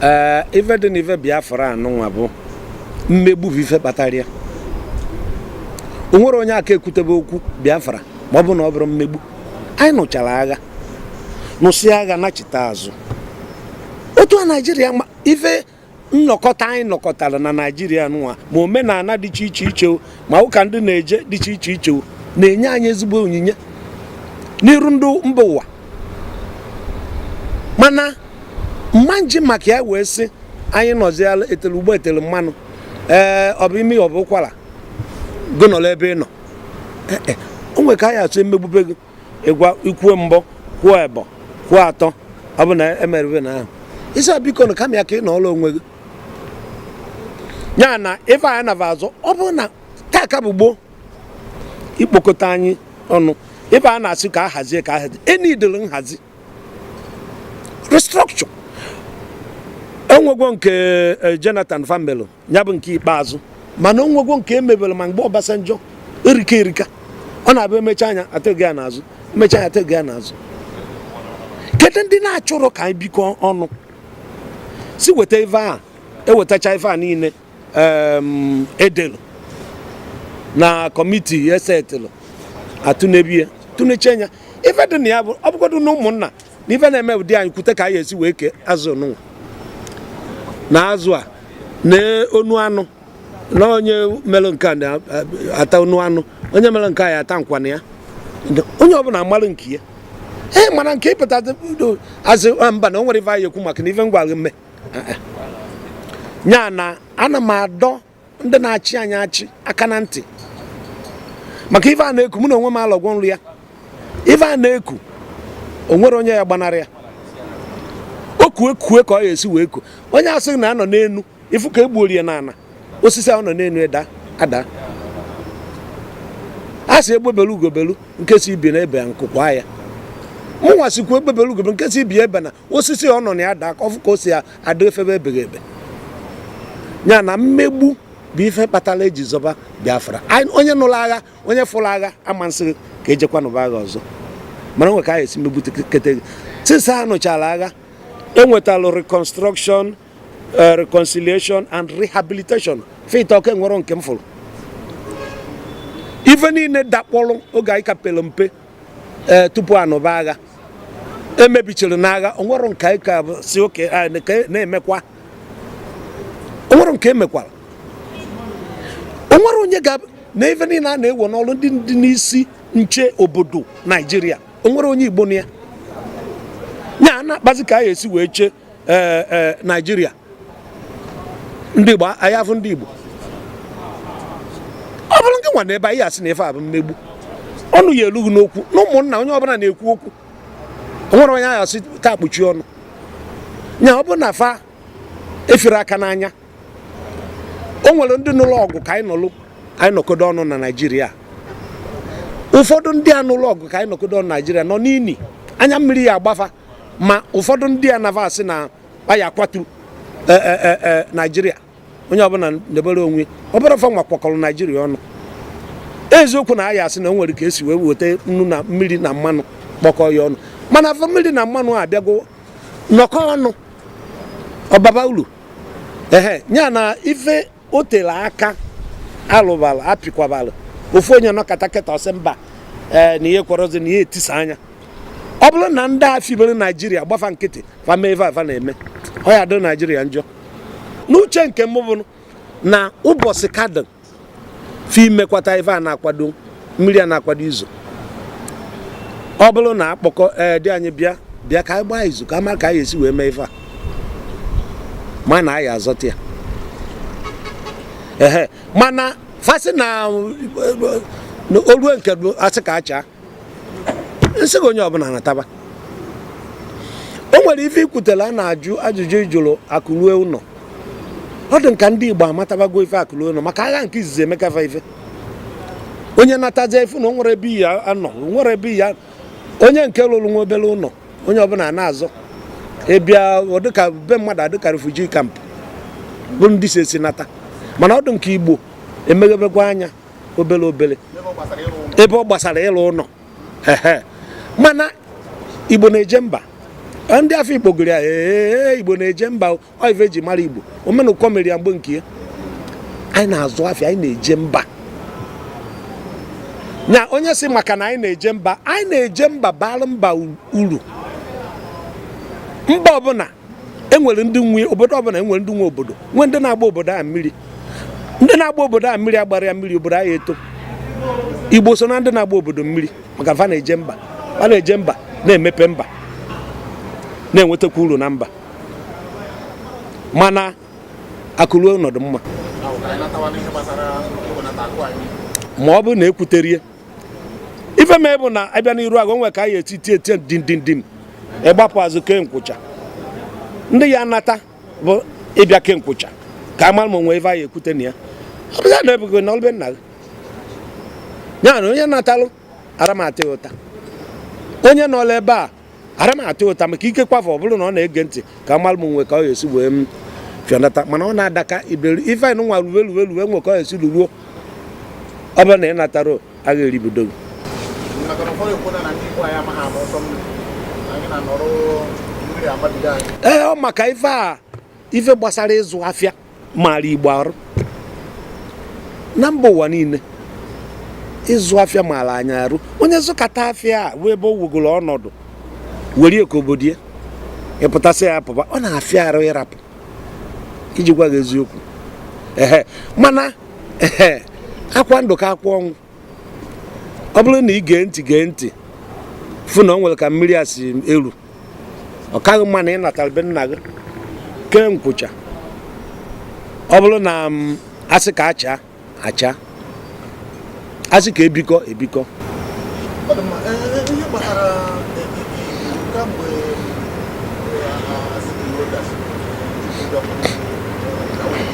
ee ife dị na ife biafra anụnwa bụ mmegbu bụ ife kpatara ya o nwero onye aka ekwutebe okwu biafra ma ọ bụ na ọ bụrọ mmegbu anyị nụchara agha nụsịa agha nachite azụ otu a naijiria ma ife nnọkọta anyị nọkọtara na naijiria nụnwa ma omenana dị iche iche iche o, ma ụka ndị na-eje dịcha iche iche na-enye anyị ezigbo onyinye n'iru ndị mba ụwa mana m ma-eji maka ya wee sị anyị nọziala etele ụgba etele mmanụ ee ọ bụ imi ọ bụ ụkwara gụ nọla ebe ị nọ e, e, o nwere ka a ya-esi emegbube gị ịgwa i kwuo mbụ kwuo ịbọ kwuo atọ ọ bụ na emerụbe na ahụ ị sị biko na kama ya ka ị nọọrọ onwe gị ya na ife anyị naba azụ ọ bụrụ na taa ka bụ gboo ikpokọta anyị ọnụ ife a na-asị ka a hazie ka a hazie enyi idoro nhazi restructure enwegwo nke eh, Jonathan fa melu ya bụ nke ikpeazụ mana onwegwo nke emebere ma mgbe Obasanjo erika erika ọ na-abụ emecha nya atụnye ya n'azụ emecha nya atụnye ya n'azụ kedu ndị na-achọrọ ka anyị bikọ ọnụ sị weta ife a ewetacha ife a niile edelu na kọmiti esetịlụ atụnebe ya tụnecha nya ife dị na ya bụ ọ bụgodu na ụmụnna n'ife na-eme ụdị anyị kwute ka anyị esi wee kee azụ nụnwa na azụ a na onu anụ na onye mere nke a na-ata onu anụ onye mere nke a ya ata nkwana ya onye ọbụna amalụ nke ya ee eh, mana nke ịpụta azụ ah, mba na o nwere ife anyị ekwu maka na ife ngwa mme ya na ana m adọ ndị na-achị anyị achị aka na ntị maka ife a na-eku mụ na onwe m alọgwo nrọ ya ife a na-eku onwero onye ya-agbanarị ya o kue kue ka ọ ya esi wee ku onye asị na anọ n'enu ifu ka egbuorie na ana osisi ahụ nọ n'enu eda ada a sị egbe belu ugo belu nke sị ibe ya ebena nku kwa ya mụnwa sịkwu egbe belu ugo belu nke sị ibe ya ebena osisi ọ nọ na ya daa ka ọ fụ ka o si adị efebe ebeghị ebe ya na mmegbu bụ ife kpatara eji zọba Biafra onye nụrụ agha onye fụrụ agha ama asị gị ka e jekwa nụba agha ọzọ mana o nwe ka a ya-esi megbutekete gị since a nụchara agha ewetalụ reconstruction eh, reconciliation and rehabilitation fa ịtọ ka enwero nke m fụrụ ife niile dakpọrọ oge anyị ka pere mpe ee tupu anụba agha emebichara n'agha onwero nke anyị ka bụ sị okay nke na-emekwa onwero nke emekwara onwere onye ga na ife niile a na-ewe n'ọrụ ndị ndị n'isi nche obodo naijiria onwero onye igbo nọ ya ya a na-akpazi ka a ya-esi wee chee ee ee naijiria ndị igbo anyị afụ ndị igbo ọ bụrụ nke nwa na ebe anyị asị na ife a bụ mmegbu ọnụ ya elughị n'okwu na ụmụnna onye ọbụla na-ekwu okwu o nwere onye ahụ asị taa kpuchie ọnụ nya ọ bụ na fa efere aka n'anya o nwere ndị nụlụ ọgụ ka anyị nọlụ anyị nọkodo ọnụ na naijiria ụfọdụ ndị a nụlụ ọgụ ka anyị nọkodo ọnụ na naijiria nọ n'ini anya mmiri ya agba fa ma ụfọdụ ndị a na va asị na a ya-akwatu e, e, e, naijiria onye ọbụla debere onwe ọ bụrụ fa nwa kwakọrọ naijiria ọnụ eziokwu na a ya-asị na o nwere ka esi wee weta nnu na mmiri na mmanụ kpọkọ ya ọnụ mana afụ mmiri na mmanụ abịago nọkọ ọnụ ọ baba ulu ehe ya na ife o tere aka alụbara apịkwabara ofu onye nọkata kịta ọ sị mba ee eh, na ya ekwerọzi na a ya-etisa nya ọ bụrụ na ndị a fibere naijiria gba fa nkịtị fa meva ife fa na-eme ọ ya-adịrị naijiria njọ n'uche nke m bụ na ụbọchị ka dị ife mekwata ife a na-akwado mmiri a na-akwado izo ọ bụrụ na akpọkọ ee di anyị bịa bịa ka anyị gbaa izu ka a ma ka anyị esi wee mee ife a mana anyị azọta ya ehe mana fa sị na olue nke asị ka a chaa n'ezi ka onye ọbụla nataba o nwere ife ikwutela a na-ajụ ajụjụ ị jụrụ akụ rue ụlọ ọ dị nka ndị Igbo amatabago ife akụ rue ụlọ maka agha nke izizi emeka fa ife onye natazie fụ na o nwerọ ebe ọ ya-anọ nwere ebe ya onye nke lụrụ nwa obere ụlọ onye ọbụla na-azọ ịbịa dịka be mmadụ adịka refugee camp bụ ndị si ezi nata mana ọ dụ nka igbo emeghebekwa anya obere obere ebe ọ gbasara ịlụ ụlọ mana igbo na-eje mba ndị afọ igbo gụrụ ya ee igbo na-eje mba ọ ife eji mara igbo omenụkọ mere ya mgbe nke ya anyị na-azụ afịa anyị na-eje mba nya onye si maka na anyị na-eje mba anyị na-eje mba bara mba uru mba ọbụla enwere ndị nwe obodo ọbụla enwere ndị nwe obodo nwee ndị na-agba obodo a mmiri ndị na-agba obodo a mmiri agbara ya mmiri obodo anyị eto igbo so na ndị na-agba obodo mmiri maka fa na-eje mba fa na-eje mba na-emepe mba na-enwetakwa uru na mba mana akụ ruo ụnọ dụ mma ma ọ bụrụ na ekwuterie ife mee bụ na abịa n'iru agụ nwe ka anyị eti tie tie dindindim ịgbapụ azụ kee nkwụcha ndị ya-anata bụ ịbịa kee nkwụcha ka a mara ma o nwe ife anyị ekwute na ya ọ bụla na ebugo na ọlụ be nna gị ya na onye natalụ ara m ata gị ụta onye nọlụ ebe a arọ m ata ụta maka ikekwafu ọ bụrụ na ọ na-ege ntị ka m malụ m nwe ka ọ ga-esi wee m fịọnata mana ọ na-adaka iberi ife anyị nwa ruwe ruwe ruwe nwe ka ọ ga-esi ruruo ọ bụrụ na ị natara agha eribido gị ee ọ maka ife a ife gbasara ịzụ afịa maara igbo arụ na mba ụwa niile ịzụ afịa maara anyị arụ onye zụkata afịa a wee ebe o nwegoro ọnọdụ were ka obodo ya ị pụta sị ya pụba ọ na-afịa arụ ịrapụ iji gwa gị eziokwu ehe mana ehe akwa ndụ ka akwa ọnwụ ọ bụrụ na ị gee ntị gee ntị fụ na o nwere ka mmiri a si eru ọ kaghị mma na ị natara be nna gị kee nkwụcha ọ bụrụ na mm, a sị ka acha acha a sị ka ebikọ ebikọ ọ dị mma Ee, ee, ihe gbasara ee, ee, ee, kamgbe ee, a- a- a sị na o dasịrị, ndị ọkụ, ee, ka o-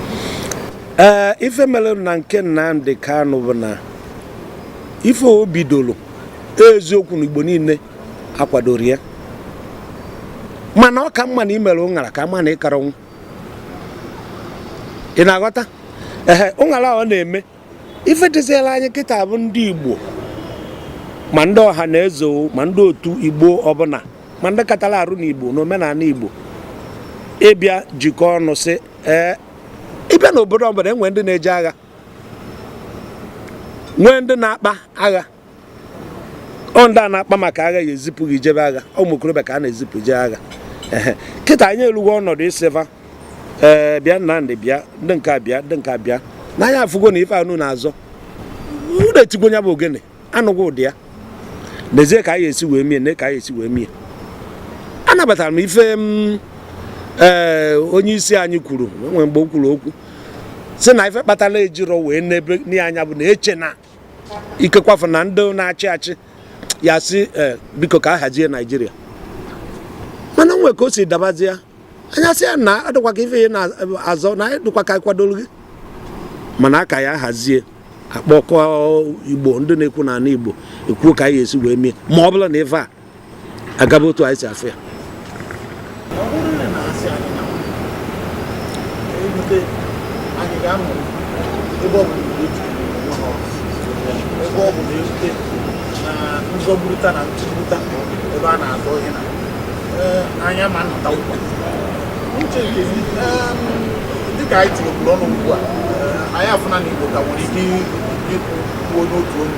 ee ife mere na nke Nnamdi Kanu bụ na ife o bidoro eziokwu na Igbo niile akwadorọ ya mana ọ ka mma na i mere ụṅara ka mma na ị kara ọnwụ ị na-aghọta ehe ụṅara ọ na-eme ife dịziela anyị kịta bụ ndị Igbo ma ndị ọha na eze ma ndị otu Igbo ọbụla ma ndị katara arụ n'Igbo na omenala Igbo ịbịa jikọ ọnụ sị ee ị bịa n'obodo ọbụla e nwee ndị na-eje agha nwee ndị na-akpa agha ọ ndị a na-akpa maka agha ya-ezipụ gị jebe agha ụmụ okorobịa ka a na-ezipụ jee agha kịta anyị elugo ọnọdụ ịsị va ee eh, bịa Nnamdị bịa ndị nke a bịa ndị nke a bịa na anyị afụgo na ife unu na-azọ unu etigo nya bụ ogene anụgo ụda ya n'ezie ka anyị esi wee mie na ka anyị esi wee mie anabatara m ife mm, ee eh, onye isi anyị kwuru nwee mgbe o kwuru okwu sị na ife kpatara ejiro wee nebe anya bụ na eche na ikekwafu na ndị na-achị achị ya-asị eh, biko ka a hazie naijiria mana nwe ka o si dabazie anyị asị ya na adịkwa ka ife ya na-azọ na dịkwa ka kwadoro gị mana a ka ya-ahazi a kpọkọ igbo ndị na-ekwu n'ala igbo ekwuo ka anyị esi wee mee ma ọ bụrụ na ife a agaba otu anyị si afụ ya nzọgburuta na ntụgbuta ebe a na-azọ ihe na anya ma nnọta ụkwa uche nke dịka anyị tinyekọrọ ọnụ ugbu a anyị afụna na igbo ka nwere ike ịkwụ n'otu onye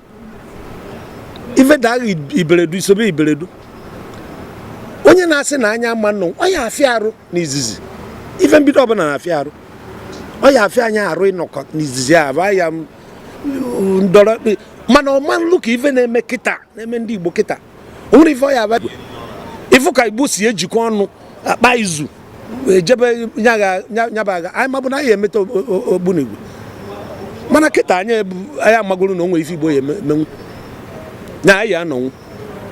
ife daghị iberedu isobe iberedu onye na-asị na anyị ama nọ ọ ya afịa arụ n'izizi ife mbido ọbụla na-afịa arụ ọ ya afịa anyị arụ ịnọkọ n'izizi a bụ ya ndọrọ mana ọ ma lu ka ife na-eme kịta na-eme ndị Igbo kịta o nwere ife ọ ya abụ ịfụ ka igbo si ejikọ ọnụ akpa izu ejebe nya bụ agha anyị mabu na anyị emeta ogbunigwe mana kịta anyị anyị amagoro na o nwere ife igbo ya emenwu na anyị anọnwu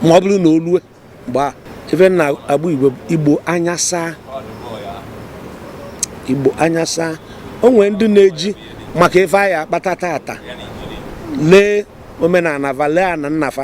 ma ọ bụrụ na o lue mgbe a ife na agba igbo anya saa igbo anya saa o nwere ndị na-eji maka ife anyị akpata tata lee omenala fa lee ana nna fa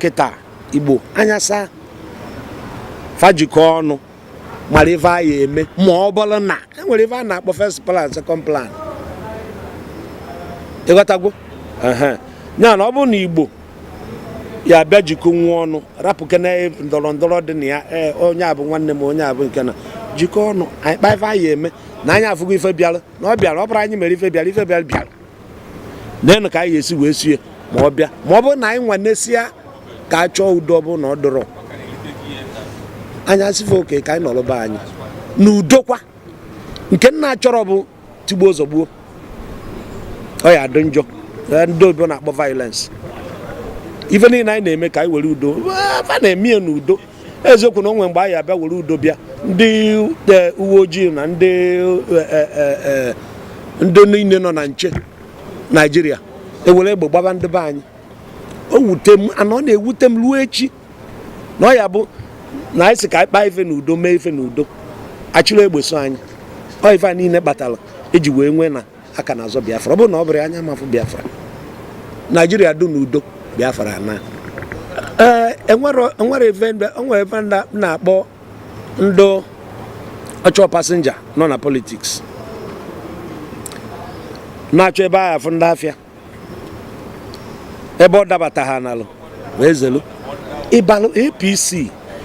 kịta igbo anya saa fa jikọ ọnụ mara ife anyị eme ma ọ bụrụ na enwere ife a na-akpọ first plan second plan ị ghọtago ya na ọ bụrụ na igbo ya bịa jikọ onwe ọnụ rapụkene ndọrọ ndọrọ dị na ya e, onye a bụ nwanne m onye a bụ nke na jikọ ọnụ anyị kpaa ife anyị eme na anyị afụgo ife bịara na ọ bịara ọ bụrọ anyị mere ife bịara ife bịara bịara nenu ka anyị ya esi wee sie ma ọ bịa ma ọ bụrụ na anyị nwanesịa ka a chọọ udo ọ bụrụ na ọ dịrọ anyị asị fa okay ka anyị nọrọba anyị na udokwa nke m na-achọrọ bụ tigbuo zọgbuo ọ ya adị njọ ndị oyibo na-akpọ violence ife niile anyị na-eme ka anyị were udo fa na-eme ya n'udo eziokwu na o nwe mgbe anyị abịa were udo bịa ndị e, uwe ojii na ndị e, e, ndị niile nọ na nche naijiria ewere egbe gbaba ndị be anyị o wute m and ọ na-ewute m ruo echi na ọ ya bụ na anyị sị ka anyị kpaa ife n'udo mee ife n'udo a chịrị egbe so anyị ọ ife a niile kpatara eji wee nwee na a ka na-azọ biafra ọ bụrụ na ọ bụrụ anyị ama afụ biafra naijiria dị n'udo biafra anaa enwere ife a na-akpọ ndị ọchọ pasenja nọ na politiks na-achọ ebe a ya afụ ndị afịa ebe ọ dabata ha nalụ wee zelu ị balụ apc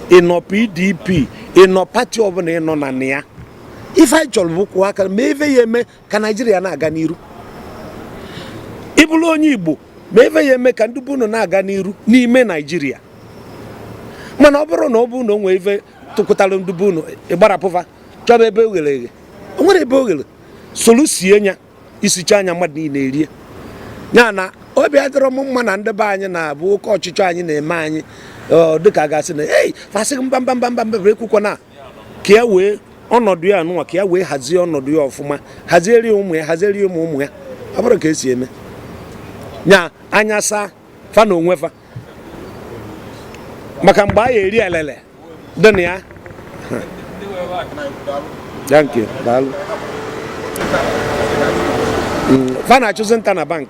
ị nọ pdp ị nọ pati ọbụla ị nọ na ya ife anyị chọrọ bụ kwụọ aka ma ife ị ya eme ka naijiria na-aga n'iru ị bụrụ onye igbo ma ife ị ya eme ka ndị be unu na-aga n'iru n'ime naijiria mana ọ bụrụ na ọ bụ na o nwee ife tụkụtara ndị be unu ị gbarapụ fa chọba ebe o ghere eghe o nwerọ ebe o ghere solu sie nya i sichaa nya mmadụ niile erie ya na obi adịrọ m mma na ndị be anyị nya bụ oke ọchịchọ anyị na-eme anyị dịka a ga-asị na ei fa sị mba mba mba mba mba ekwukwa na ka ya wee ọnọdụ ya anụnwa ka ya wee hazie ọnọdụ ya ọfụma hazieri ụmụ ya hazieri ụmụ ụmụ ya ọ bụrụ ka e si eme nya anya saa fa na onwe fa maka mgbe a ya-eri elele dị na ya thank you daalụ mm, fa na-achụzi nta na bank